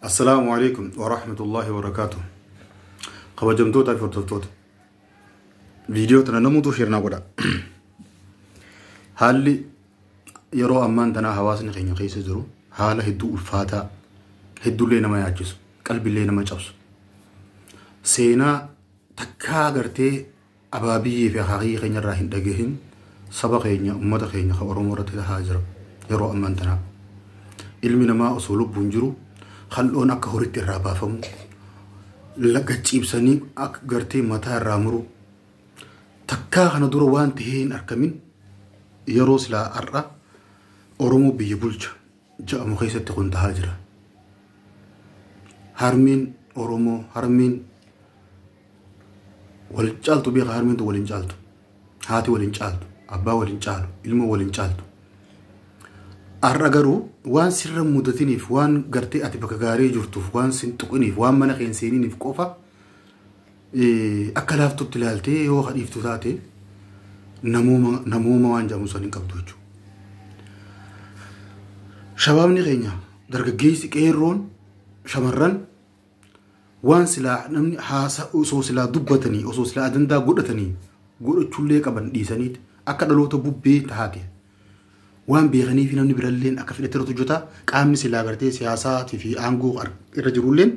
Assalaamu alaikum wa rahmatullahi wa barakaatuh. Kabajamtootaa fi hordoftoota. Viidiyoo tana namuutu sheernaa godha. Haalli yeroo ammaan tanaa hawaasni keenya keessa jiru haala hedduu ulfaataa, hedduullee nama yaachisu, qalbillee nama cabsu. Seenaa takkaa gartee Ababiye fi akaakiyya keenya irraa hin dhagahin saba keenya ummata keenya ka oromoo irratti tahaa jira yeroo amman tanaa ilmi namaa osoo lubbuun jiru kaldhoon akka horitti irraa baafamu gacciibsanii akka gartee mataa irraa muru takkaa kana dura waan tahee hin arkamin yeroo silaa har'a oromoo biyya bulcha ja'amu keessatti kun tahaa jira harmeen oromoo harmeen wal caaltu beeka harmeen tun wal hin caaltu haati wal hin caaltu abbaa wal hin caalu ilmoo wal hin caaltu har'a garuu waan sirra hin mudatiniif waan gartee ati bakka gaarii jirtuuf waan sin tuqiniif waan mana kee hin seeniniif qofa eh, akka laaftutti ilaaltee yoo hadhiiftu taate namooma namooma waan jedhamu san hin qabdu jechuudha. Shabaabni keenya dargaggeessi qeerroon shamarran Waan silaa namni haasa osoo silaa dubbatanii osoo silaa ajandaa godhatanii godhachuullee qaban dhiisaniit akka dhaloota bubbee taate waan beekanii fi namni biralleen akka fedhatti irratti hojjeta qaamni silaa gartee siyaasaatii fi aangoo ar- irra jirulleen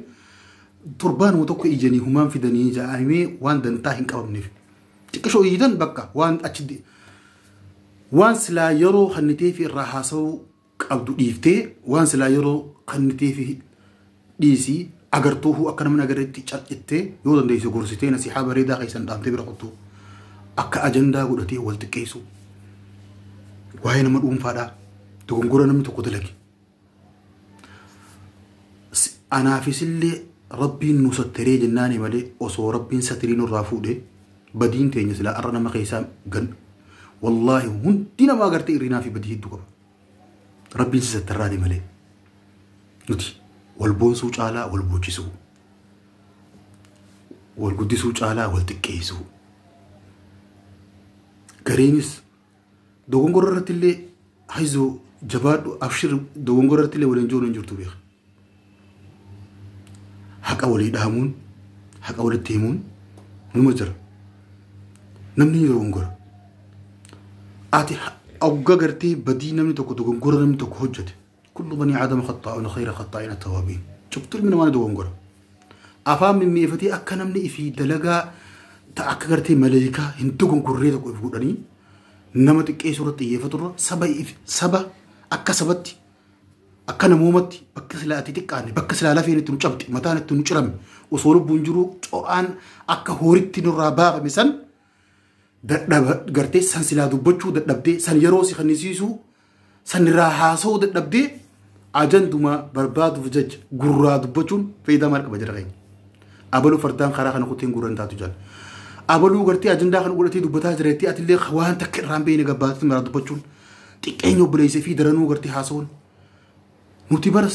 torbaanuma tokko ijanii humaan fidanii ja'amee waan dantaa hin qabamneef xiqqishoo iyyitan bakka waan achi de- waan silaa yeroo kannitee fi irraa haasa'uu qabdu dhiiftee waan silaa yeroo kanniteefi dhiisi agartuufu akka namni agarretti carcittee yoo dandeesse gorsitee nasihaa bareedaa keessan dhaamtee bira kuttu akka ajandaa godhatee wal xiqqeessu waa'ee nama dhuunfaadhaa dogongora namni tokko dalage S- anaafis illee rabbiin nu sattaree jennaani malee osoo rabbiin satirii nurraa fuudhee Badiin teenya silaa arra nama keessaa ganna. Wallaahi hundi namaa gartee irrinaa fi badii hedduu qaba. Rabbiin si sattarraate malee. Nuti wal boonsuu caalaa wal boochisuu. Wal guddisuu caalaa wal xiqqeessuu. Gariinis dogongora irratti illee hayzoo jabaadhu abshir dogongora irratti illee waliin joonu hin jirtu beeka. haqa walii dhaamuun haqa walitti himuun numa jira namni yeroo hongora ati ogga gartee badii namni tokko dogongora namni tokko hojjete kullu banii aadama khaxaa'uun khayra khaxaa'iin attawaabiin cuftu ilmi namaa ni dogongora afaan mimmiifatee akka namni ifii dalagaa ta akka gartee maleekaa hin dogongorree tokko if godhanii nama xiqqeessuu irratti xiyyeeffaturra saba if- saba akka sabatti Akka namoomatti bakka silaa itti xiqqaanne bakka silaa lafeen itti nu cabxe mataan itti nu cirame osoo lubbuun jiruu co'aan akka hooritti nurraa baafame san dadhaba gartee san silaa dubbachuu dadhabdee san yeroo si kennisiisuu san irraa haasa'uu dadhabdee ajandumaa barbaaduuf jecha gurraa dubbachuun faayidaa maal qaba jira keenya. Abaluu fardaan karaa kana kuteen gurra hin taatu jala. Abaluu gartee ajandaa kana godhatee dubbataa jira jettee atillee waan takka irraa hin beekne gabbaatee maraa dubbachuun Xiqqeenya obboleessa fi daranuu gartee haasawuun. Nuti bar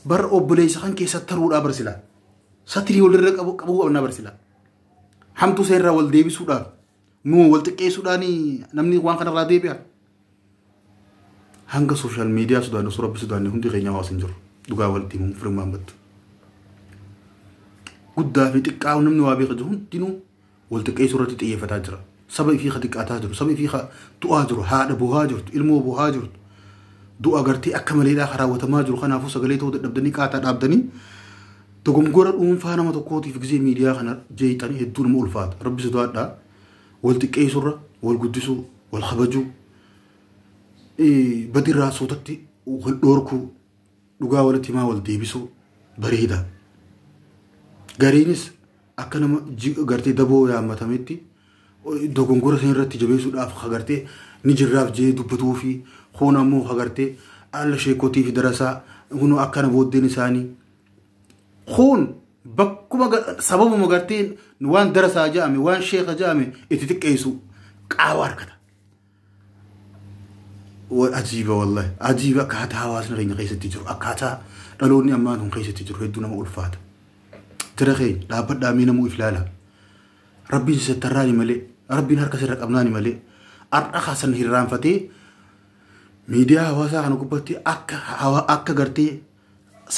bar obboleessa kan kee sattaruudhaa bar silaa. Satirii walirra qabu qabuu qabnaa bar silaa. Hamtuu isa irraa wal deebisuudhaaf nuu wal xiqqeessuudhaan namni waan kanarraa deebi'a. Hanga sooshaal miidiyaa sodaannu osoo rabbi sodaanne hundi keenya hawaasa hin jiru. Dhugaa walitti himuun firummaan battu. Guddaa fi xiqqaa namni waa beeku jiru hundinuu wal xiqqeessuu irratti xiyyeeffataa jira. Saba ifii ka xiqqaataa jiru, saba ifii ka du'aa jiru, haadha bohaa jirtu, ilmoo bohaa jirtu, du'a gartee akka maleedhaa ka raawwatamaa jiru kanaafuu sagalee ta'uu dadhabdanii qaataa dhaabdanii dogongora dhuunfaa nama tokkootiif gizee miidiyaa kana jeeyxanii hedduu nama ulfaata. Rabbi sodaadhaa wal xiqqeessuu irra wal guddisuu, wal kabajuu, badirraa suutatti wal dhoorkuu, dhugaa walitti himaa wal deebisuu bareeda. Gariinis akka nama ji- gartee daboo yaammatametti dogongora sana irratti jabeessuudhaaf hagartee ni jirraaf jee dubbatuu fi hoon ammoo hagartee alla sheekotii fi darasaa kunoo akkana booddeen isaanii hoon bakkuma ga- sababuma gartee waan darasaa ja'ame waan sheeka ja'ame itti xiqqeessu qaawa harkata. ajiiba wallahi ajiiba akkaataa hawaasni keenya keessatti jiru akkaataa dhaloonni ammaa kun keessatti jiru hedduu nama ulfaata jira keenya dhaabbadhaa mee namuu if laala rabbiin si sattarraani malee rabbiin harka sirra qabnaani malee har'a kaasan hirraanfatee miidiyaa hawaasaa kana gubbatti akka hawa akka gartee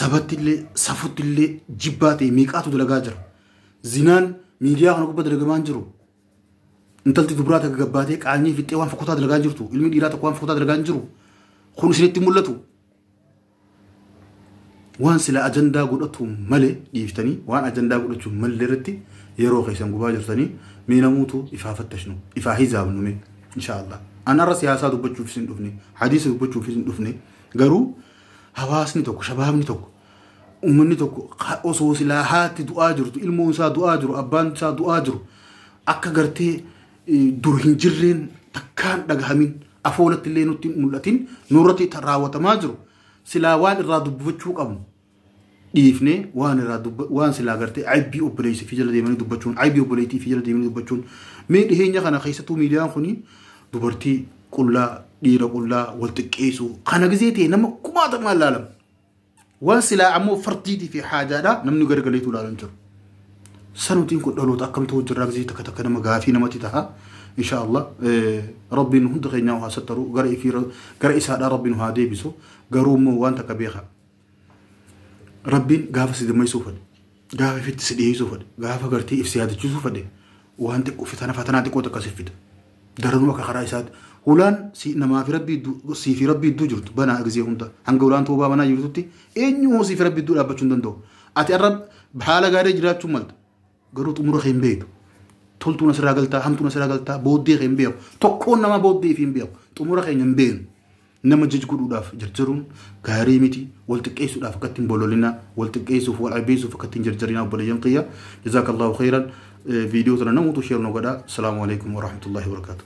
sabatti illee safutti illee jibbaa ta'e meeqaatu dalagaa jira zinaan miidiyaa kana gubbatti dalagamaan jiru intalti dubraa takka gabbaatee qaanyii fixxee waan fokkotaa dalagaa hin jirtu ilmi dhiiraa tokko waan fokkotaa dalagaa hin jiru kun isinitti mul'atu waan sila ajandaa godhatu malee dhiiftanii waan ajandaa godhachuu malee irratti yeroo keessan gubaa jirtanii mee namuutu ifaa fattashnu ifaa hizaabnu mee inshaallah an arra siyaasaa dubbachuuf isin dhufne hadiisa dubbachuuf isin dhufne garuu hawaasni tokko shabaabni tokko Uummanni tokko osoo silaa haatti du'aa jirtu, ilmoon isaa du'aa jiru, abbaan isaa du'aa jiru akka gartee dur hin jirreen takkaan dhagahamin afoolatti illee nutti mul'atin nurratti raawwatamaa jiru silaa waan irraa dubbachuu qabnu dhiifnee waan irraa dubba waan silaa gartee aybii obboleessi fi jala deemanii dubbachuun aybii obboleettii fi jala deemanii dubbachuun mee dhiheenya kana keessattuu miidiyaan kuni dubartii qullaa dhiira qullaa wal xiqqeessuu kana gizee ta'e nama kumaatamaan laalamu Wan silaa ammoo fardiitii fi haajaadhaa namni gargaleetu ilaalu hin jiru. Sanutiin kun dhaloota akkam ta'uu jirraa gisee takka takka nama gaafii namatti taha. Insha Allah rabbiin hunda keenyaa haa sattaru gara ifii gara isaadhaa rabbiin haa deebisu garuu immoo waan takka beeka. Rabbiin gaafa si dammaysuu fedhe. Gaafa ifitti si dhiyeessuu fedhe, gaafa gartee if si yaadachiisuu fedhe, waan xiqqoo fitana fatanaa xiqqoo takka siif fida. Daranuu akka karaa isaatti hulaan si namaa fi rabbii idduu sii fi rabbii idduu jirtu banaa gizee hunda hanga hulaan toobaa banaa jirtutti eenyu hoo sii fi rabbii idduu dhaabbachuu hin danda'u. Ati arra haala gaarii jiraachuu malta garuu xumura kee hin beektu. Toltuun asirraa galtaa hamtuun asirraa galtaa booddee kee hin beeku. Tokkoon namaa booddee fi hin beeku. Xumura keenya hin beeknu. Nama jaj godhuudhaaf jarjaruun gaarii miti wal xiqqeessuudhaaf akkatti hin bololinaa wal xiqqeessuuf wal aybeessuuf akkatti hin jarjarinaa obboleeyyan kiyya jazaakallahu khayran viidiyoo tana namuutu sheer nu godhaa salaamu alaikum warahmatullahi wabarakaatu